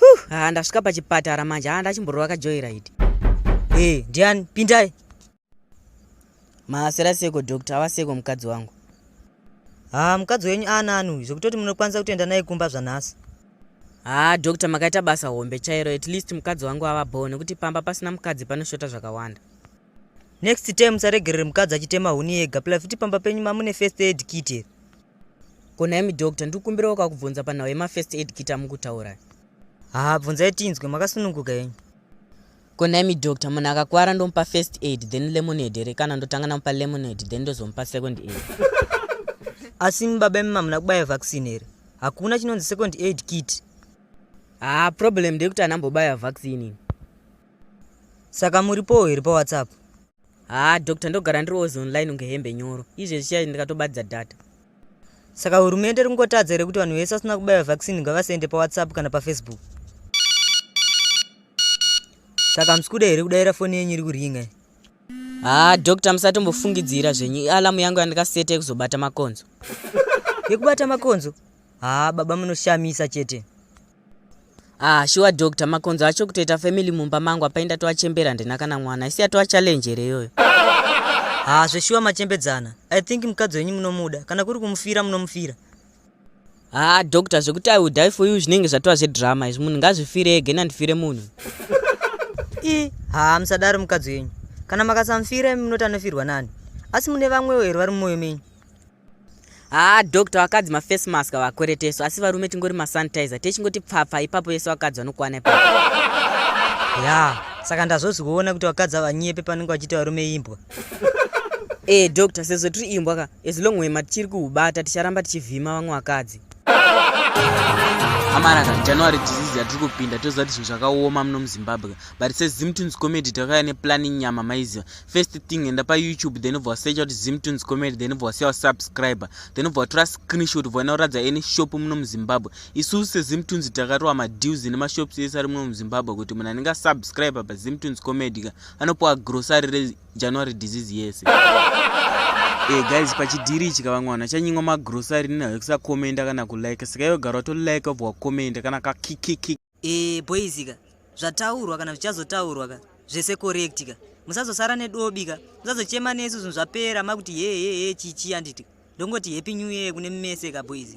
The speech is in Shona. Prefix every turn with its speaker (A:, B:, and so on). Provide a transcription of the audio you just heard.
A: huh haa ndasvika pachipatara manje haa ndachimborova kajoiraidi e eh,
B: ndiani pindai
A: maasera seko doctor ava seko mukadzi wangu haa
B: mukadzi wenyu aanani uyu zvekutoti munokwanisa kutoenda naye kumba zvanhasi haa
A: doctor makaita basa hombe chairo at least mukadzi wangu ava bho nekuti pamba pasina mukadzi panoshota zvakawanda next
B: time musaregerere mukadzi achitema huni yega pila futi pamba penyu mamune first aid kit here Ko nhaimi
A: doctor ndikukumbirawo kakubvunza panhau yemafirst aid kit amukutaura. Haa bvunzai
B: tinzwe makasununguka henyu. Ko
A: nhaimi doctor munhu akakwara ndomupa first aid then lemonade here kana ndotanga namupa lemonade then ndozomupa second aid.
B: Asi imi baba imi mamuna kubaya vaccine here? Hakuna chinonzi second aid kit. Haa
A: problem ndeyekuti anambobaya vaccine ini.
B: Saka muripowo here pawhatsapp? haa doctor
A: ndogara ndiri was online kunge hembe nyoro izve zvichai ndikatobatidza data saka
B: hurumende iri kungotadza here kuti vanhu vese vasina kubaiwa vaccine ngavasaende pawhatsapp kana pafacebook saka hamusi kuda here kudaira foni yenyu iri kuringa haa
A: doctor musatombofungidzira zvenyu ialamu yangu yandikaseta yekuzobata makonzo yekubata
B: makonzo haa baba munoshamisa chete
A: ah shuwa doctor makonzo acho kutoita family mumba mangu apai ndatoachembera handina kana mwana isi atova challenge here iyoyo haa ah,
B: zveshuwa machembedzana i think mukadzi wenyu munomuda kana kuri kumufira munomufira haa
A: ah, doctor zvekuti i will die for you zvinenge zvatova zvedrama izvi munhu ngazvifire ege nandifire munhu i haa
B: ah, musadaro mukadzi wenyu kana makasamufira munoti anofirwa nani asi mune vamwewo here vari mumoyo menyu haa
A: doctor vakadzi mafirst mask vakweretesu asi varume tingori masanitizer techingoti pfapfa ipapo vese vakadzi vanokwana ipapo ya
B: saka ndazozikuona kuti vakadzi avanyepe panenge vachiita varume imbwa ee
A: eh, doctor sezvo tiri imbwa ka as long wema tichiri kuhubata ticharamba tichivhima vamwe vakadzi amaraka january disease yatiri kupinda toziva kuti zvinhu zvakaoma muno muzimbabwe but sezimtons comedy takauya neplanning nyama maiziva first thing enda payoutube then ubva wasecha kuti zimtunes comedy then ubva wasiya wasubscriber then ubva watora screenshot ubva unoratidza any shop muno muzimbabwe isusu sezimtunes takarowa madeals nemashops ese ari muno muzimbabwe kuti munhu anenge asubscriber pazimtunes comedy ka anopiwa grocery rejanuary disease yese e guys pachidhiri ichi kavamwe vanhu vachanyimwa magrocery nina vekusakomenda kana kulike saka iwe gara watolike ubva wakomenda kana kakikiki e, boys ka
B: zvataurwa kana zvichazotaurwa ka zvese correct ka musazosara nedobi ka musazochema nesu zvinhu zvapera makuti hehehe chichi anditi ndongoti happy new year kune mese ka boys